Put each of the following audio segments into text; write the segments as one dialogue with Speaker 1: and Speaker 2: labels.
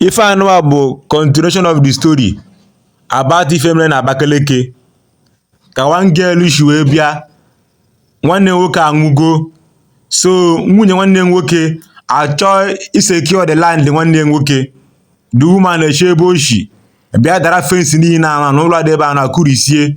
Speaker 1: Ife anụwa bụ continuation of the story about ife mere na Abakaliki ka one girl shi wee bịa nwanne nwoke anwụgo so nwunye nwanne nwoke achọ isecure the land nwanne nwoke the woman eche ebe o shi bịa dara fensi niile ahụ na ụlọ dị ebe ahụ na kụrisie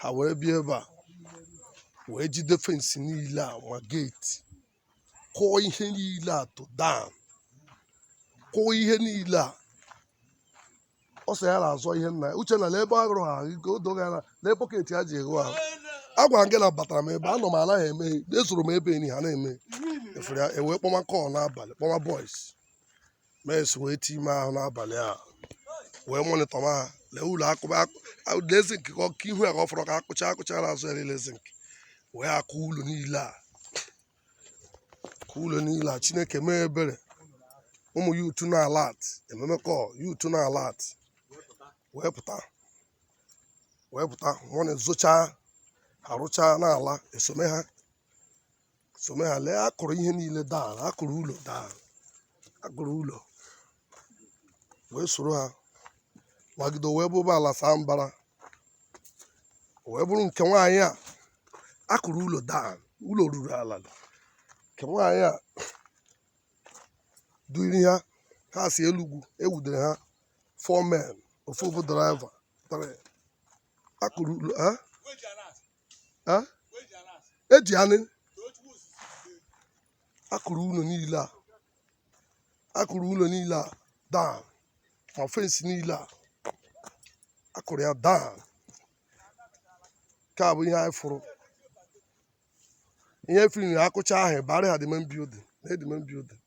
Speaker 2: ha wee bịa ebe a wee jide fensị niile a ma geeti kụọ ihe niile a to down kụọ ihe niile a ọ sị ya na-azọ ihe nna ya uche na na ebe agụrụ ha ike o doghị anya na ebe bọket ha ji egho ahụ agwara m gị na batara m ebe anọ m anaghị eme ezoro m ebe enyi ha na-eme efere ya ewee kpọma call n'abalị kpọma boys mes wee time ahụ n'abalị a wee monitor ma ha lee ụlọ akụba lee zinc ka ihu ya ka ọ fọrọ ka akụcha akụcha na azụ ya lee zinc wee akụ ụlọ niile a kụ ụlọ niile a Chineke mee ebere ụmụ youth na alert emee m call youth na alert wee pụta wee pụta mọnị zụchaa arụchaa n'ala esome ha some ha lee akụrụ ihe niile daa akụrụ ụlọ daa akụrụ ụlọ wee soro ha wagide wee bụba ala saa mbara wee bụrụ nke nwaanyị a akụrụ ụlọ daa ụlọ ruru ala nke nwaanyị a duri ha ha si elugwu ewudere ha four men ofu bụ driver akụrụ ụlọ ha eji anị akụrụ ụlọ niile a akụrụ ụlọ niile a daa ma fensị niile a akụrụ ya daa nke a bụ ihe anyị fụrụ ihe firi na akụcha ahụ bara ha the main building na the main building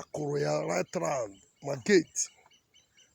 Speaker 2: akụrụ ya right round ma gate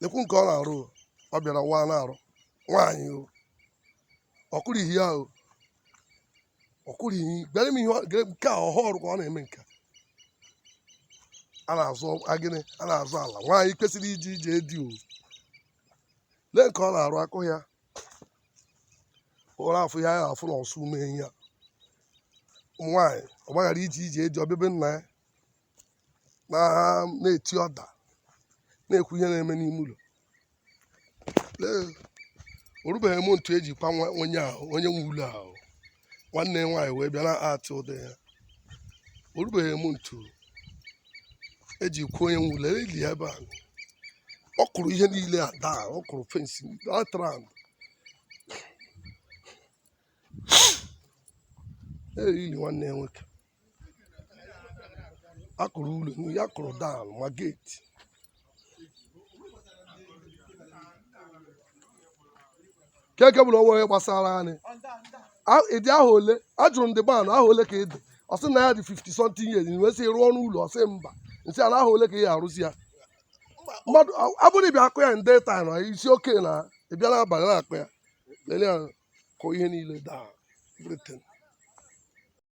Speaker 2: lekwu nke ọ na-arụ o. ọ bịara wa na-arụ nwaanyị o ọkụrụ ihe ya o ọkụrụ ihe bịara m ihe ọ- gere- nke a ọhụụ ọrụ ka ọ na-eme nke a. a na-azọ gịnị a na-azọ ala nwaanyị kwesịrị ije ije di o lee nke ọ na-arụ akụ ya ụra afụ ya ya afụ na ọsụ mee ya ụmụ nwaanyị ọ gbaghara ije ije di ọ bịa be nna ya na-eti order na-ekwu ihe na-eme n'ime ụlọ o rubeghị m ntị eji kwa onye ahụ onye nwe ụlọ ahụ nwanne nwaanyị wee bịa na-atụ ụdị ya o rubeghị m ntị eji kwuo onye nwe ụlọ eli ebe a ọ kụrụ ihe niile a daa ọ kụrụ fensị atara eriri nwanne ya nwoke a kụrụ ụlọ ya kụrụ daa ma geeti keke bụrụ onwe onye gbasara anyị A- ị dị ahọ ole ajụrụ m dị ban ahọ ole ka ị dị ọ sị na ya dị 50 something years wee sị rụọnụ ụlọ ọ sị mba m sị n'ahọ ole ka ị arụzi ya mmadụ a- ọ bụrụ ị bịa akụ ya na day time ị sị okay na ị bịa n'abalị na-akụ ya lelee ya kụọ ihe niile daa everything